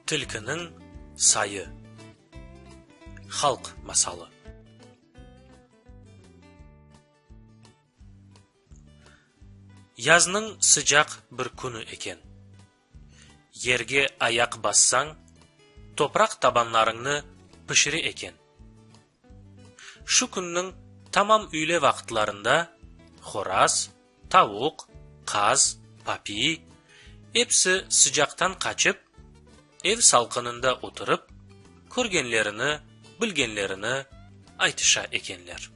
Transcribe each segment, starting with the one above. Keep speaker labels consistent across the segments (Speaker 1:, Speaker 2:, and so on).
Speaker 1: Tilkiniñ sayı. Halq masalı. Yaznıñ sıcaq bir künü eken. Yerge ayaq bassañ, topraq tabanlarıñnı pişire eken. Şu künniñ tamam üyle vaqıtlarında horaz, tavuq, qaz, papiy, episi sıcaqtan qaçıp, ev salqınında oturıp, körgenlerini, bilgenlerini aytışa ekenler.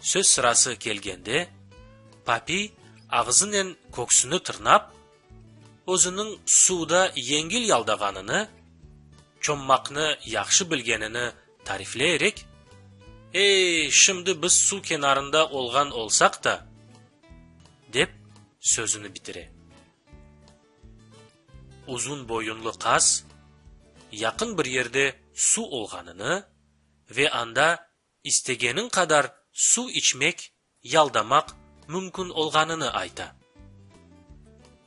Speaker 1: Söz sırası kelgende, Papiy ağzınen köksüni tırnap, özüniñ suvda yengil yaldağanını, çommaqnı yahşı bilgenini tarifleyerek, Ey, şimdi biz suv kenarında olğan olsaq da! dep sözüni bitire. Uzun boyunlı qaz yaqın bir yerde suv olğanını, ve anda istegeniñ qadar suv içmek, yaldamaq mümkün olğanını ayta.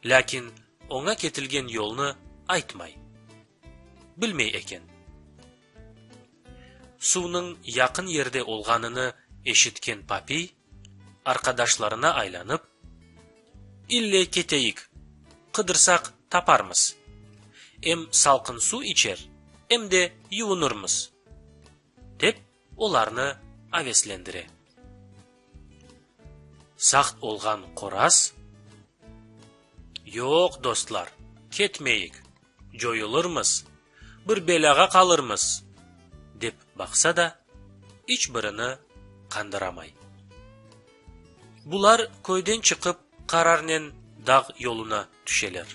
Speaker 1: Lâkin oña ketilgen yolnı aytmay. Bilmey eken. Suvnıñ yaqın yerde olğanını eşitken Papiy. Arqadaşlarına aylanıp, İlle keteyik, qıdırsaq taparmız. Em salqın suv içer, em de yuvunırmız, dep olarnı aveslendire. Saqt olğan qoraz, Yoq, dostlar, ketmeyik, coyulırmız, bir belâğa qalırmız, dep baqsa da, iç birini qandıramay. Bular köyden çıqıp qararnen dağ yoluna tüşeler.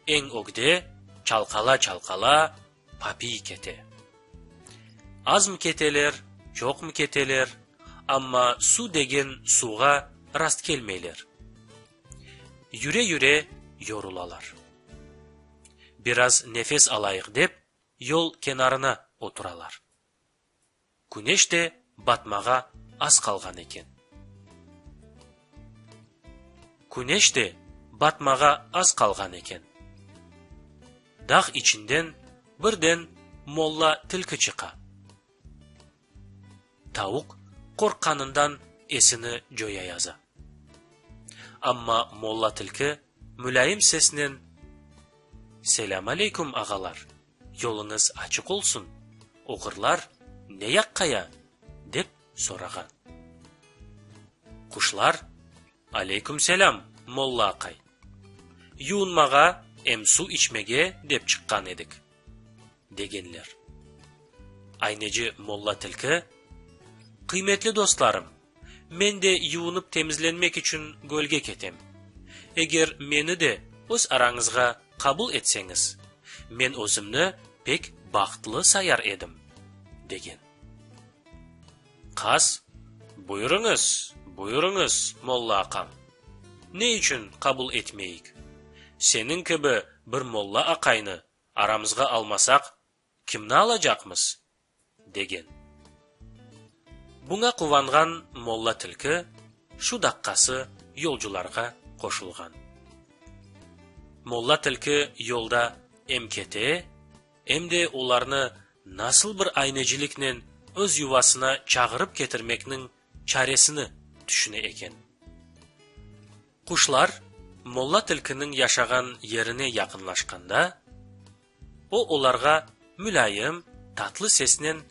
Speaker 1: Eñ ögde çalqala-çalqala. Papiy kete. Azm keteler, çoqm keteler, amma suv degen suvğa rastkelmeyler. Yüre-yüre yorulalar. Biraz nefes alayıq dep, yol kenarına oturalar. Küneş de batmağa az qalğan eken. Küneş de batmağa az qalğan eken. Dağ içinden birden molla tilki çıqa. Tavuq qorqqanından esini coyayaza. Amma molla tilki mülayim sesnen, Selâmaleykum, ağalar! Yoluñız açıq olsun, oğurlar ne yaqqa ya? dep sorağan. Quşlar, Aleyküm selâm, molla aqay! Yuunmağa em suv içmege dep çıqqan edik, degenler. Ayneci molla tilki, Qıymetli dostlarım, men de yuunıp temizlenmek içün gölge ketem. Eger meni de öz arañızğa Qabul etseñiz, men özümni pek bahtlı sayar edim, degen. Qaz, Buyurıñız, buyurıñız, molla aqam. Ne içün qabul etmeyik? Seniñ kibi bir molla aqaynı aramızğa almasaq, Kimni alacaqmız? degen. Buña quvanğan molla tilki şu daqqası yolcularğa qoşulğan. Molla tilki yolda em kete, em de olarnı nasıl bir ayneciliknen öz yuvasına çağırıp ketirmekniñ çaresini tüşüne eken. Quşlar molla tilkiniñ yaşağan yerine yaqınlaşqanda. O olarğa mülâyim, tatlı sesnen,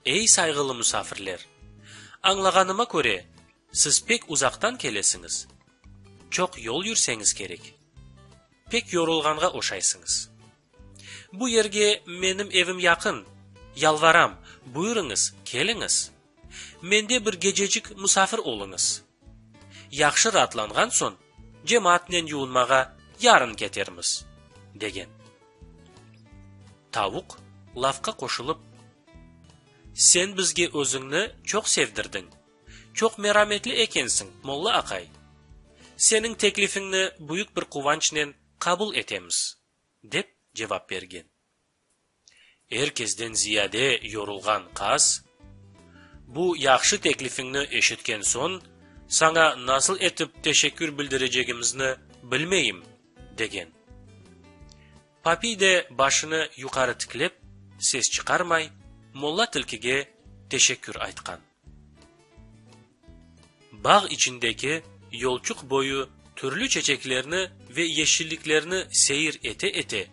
Speaker 1: Ey, sayğılı musafirler! Añlağanıma köre, siz pek uzaqtan kelesiñiz, çoq yol yürseñiz kerek, pek yorulğanğa oşaysıñız. Bu yerge menim evim yaqın, yalvaram, buyurıñız, keliñiz! Mende bir gececik musafir oluñız. Yahşı raatlanğan soñ, cemaatnen yuvunmağa yarın ketermiz, degen. Tavuq lafqa qoşulıp, Sen bizge özüñni çoq sevdirdiñ, çoq merametli ekensiñ, molla aqay. Seniñ teklifiñni büyük bir quvançnen qabul etemiz, dep cevap bergen. Er kesden ziyade yorulğan qaz, Bu yahşı teklifiñni eşitken soñ, saña nasıl etip teşekkür bildirecegimizni bilmeyim, degen. Papiy de başını yuqarı tiklep, ses çıqarmay, molla tilkige teşekkür aytqan. Bağ içindeki yolçuq boyu türlü çeçeklerni ve yeşilliklerni seyir ete-ete,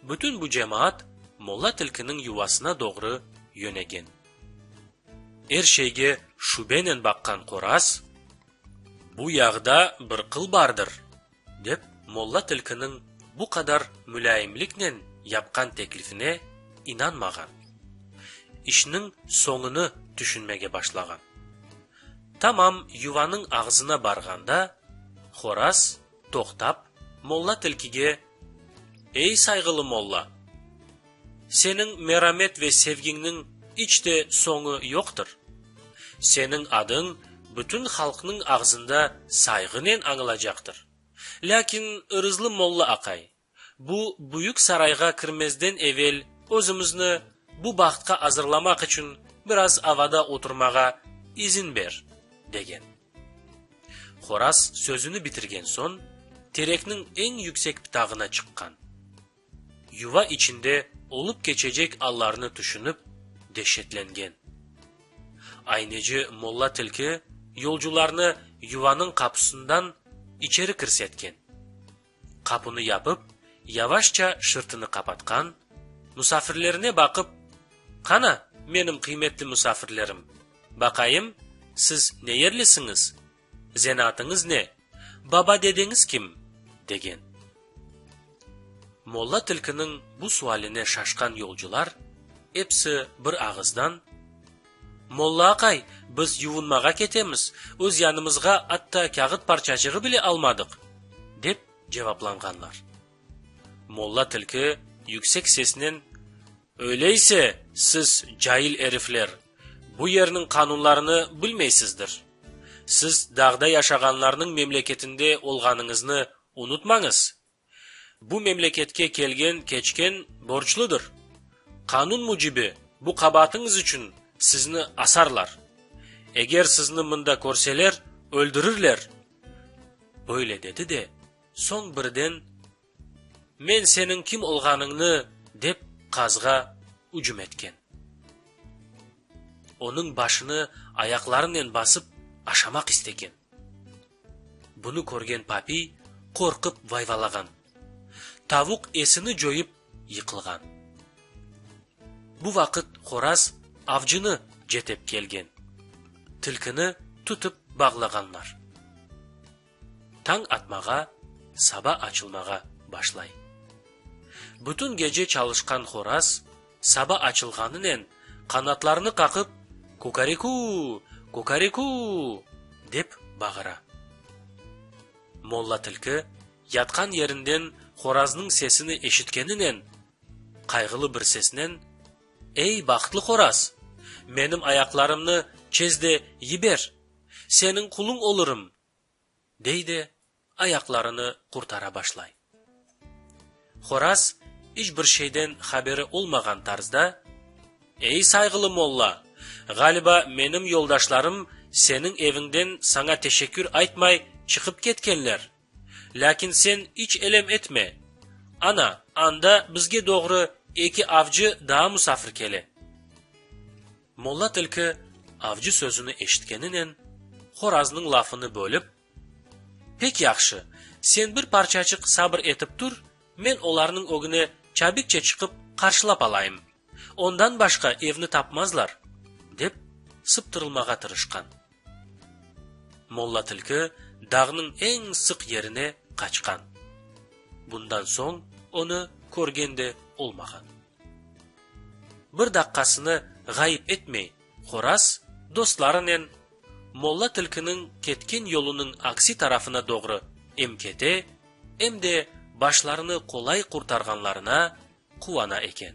Speaker 1: bütün bu cemaat molla tilkiniñ yuvasına doğru yönegen. Er şeyge şübenen baqqan qoraz, Bu yağda bir qıl bardır! Dep, molla tilkiniñ bu qadar mülâyimliknen yapqan teklifine inanmağan. İşniñ soñunı tüşünmege başlağan. Tamam yuvanıñ ağzına barğanda, Horaz, toqtap, molla tilkige, Ey, sayğılı molla! Seniñ meramet ve sevgiñniñ iç de soñu yoqtır. Seniñ adıñ bütün halqnıñ ağzında sayğınen añılacaqtır. Lâkin, ırızlı molla aqay, bu büyük sarayğa kirmezden evel özümizni bu bahtqa azırlamaq içün biraz avada oturmağa izin ber, degen. Horaz sözüni bitirgen soñ, terekniñ eñ yüksek ptağına çıqqan. Yuva içinde olıp keçecek allarnı tüşünip, deşetlengen. Ayneci molla tilki yolcularnı yuvanıñ qapusından içeri kirsetken. Qapunı yapıp, yavaşça şırtını qapatqan, musafirlerine baqıp, Qana, menim qıymetli musafirlerim, baqayım, siz ne yerlisiñiz? Zenaatınız ne? Baba-dedeñiz kim? degen. Molla tilkiniñ bu sualine şaşqan yolcular episi bir ağızdan, Molla aqay, biz yuvunmağa ketemiz, öz yanımızğa atta kâğıt parçacığı bile almadıq! dep cevaplanğanlar. Molla tilki yüksek sesnen, Öyleyse, siz, cail erifler, bu yerniñ qanunlarını bilmeysizdir. Siz dağda yaşağanlarnıñ memleketinde olğanıñıznı unutmañız. Bu memleketke kelgen-keçken borçludır. Qanun mücibi, bu qabaatıñız içün sizni asarlar. Eger sizni mında körseler, öldürirler. Böyle dedi de, soñ birden Men seniñ kim olğanıñnı dep qazğa ücüm etken. Onıñ başını ayaqlarınen basıp aşamaq istegen. Bunı körgen Papiy qorqıp vayvalağan. Tavuq esini coyıp yıqılğan. Bu vaqıt Horaz avcını cetep kelgen. Tilkini tutıp bağlağanlar. Tañ atmağa, saba açılmağa başlay. Bütün gece çalışqan horaz, saba açılğanınen, qanatlarını qaqıp, Kukariku! Kukariku! dep bağıra. Molla tilki, yatqan yerinden horaznıñ sesini eşitkeninen, qayğılı bir sesnen, Ey, bahtlı horaz! Menim ayaqlarımnı çez de yiber! Seniñ quluñ olurum! dey de, ayaqlarını qurtara başlay. Horaz iç bir şeyden haberi olmağan tarzda, Ey, sayğılı molla, ğaliba, menim yoldaşlarım seniñ eviñden saña teşekkür aytmay çıqıp ketkenler. Lâkin sen iç elem etme, ana, anda bizge doğru eki avcı daa musafir kele. Molla tilki avcı sözüni eşitkeninen, horaznıñ lafını bölip, Pek yahşı, sen bir parçaçıq sabır etip tur, men olarnıñ ögüne çabikçe çıqıp qarşılap alayım, ondan başqa evni tapmazlar, dep sıptırılmağa tırışqan. Molla tilki dağnıñ eñ sıq yerine qaçqan. Bundan soñ onı körgen de olmağan. Bir daqqasını ğayıp etmey, Horaz dostlarınen Molla Tilkiniñ ketken yolunıñ aksi tarafına doğru em kete, em de başlarını qolay qurtarğanlarına quvana eken.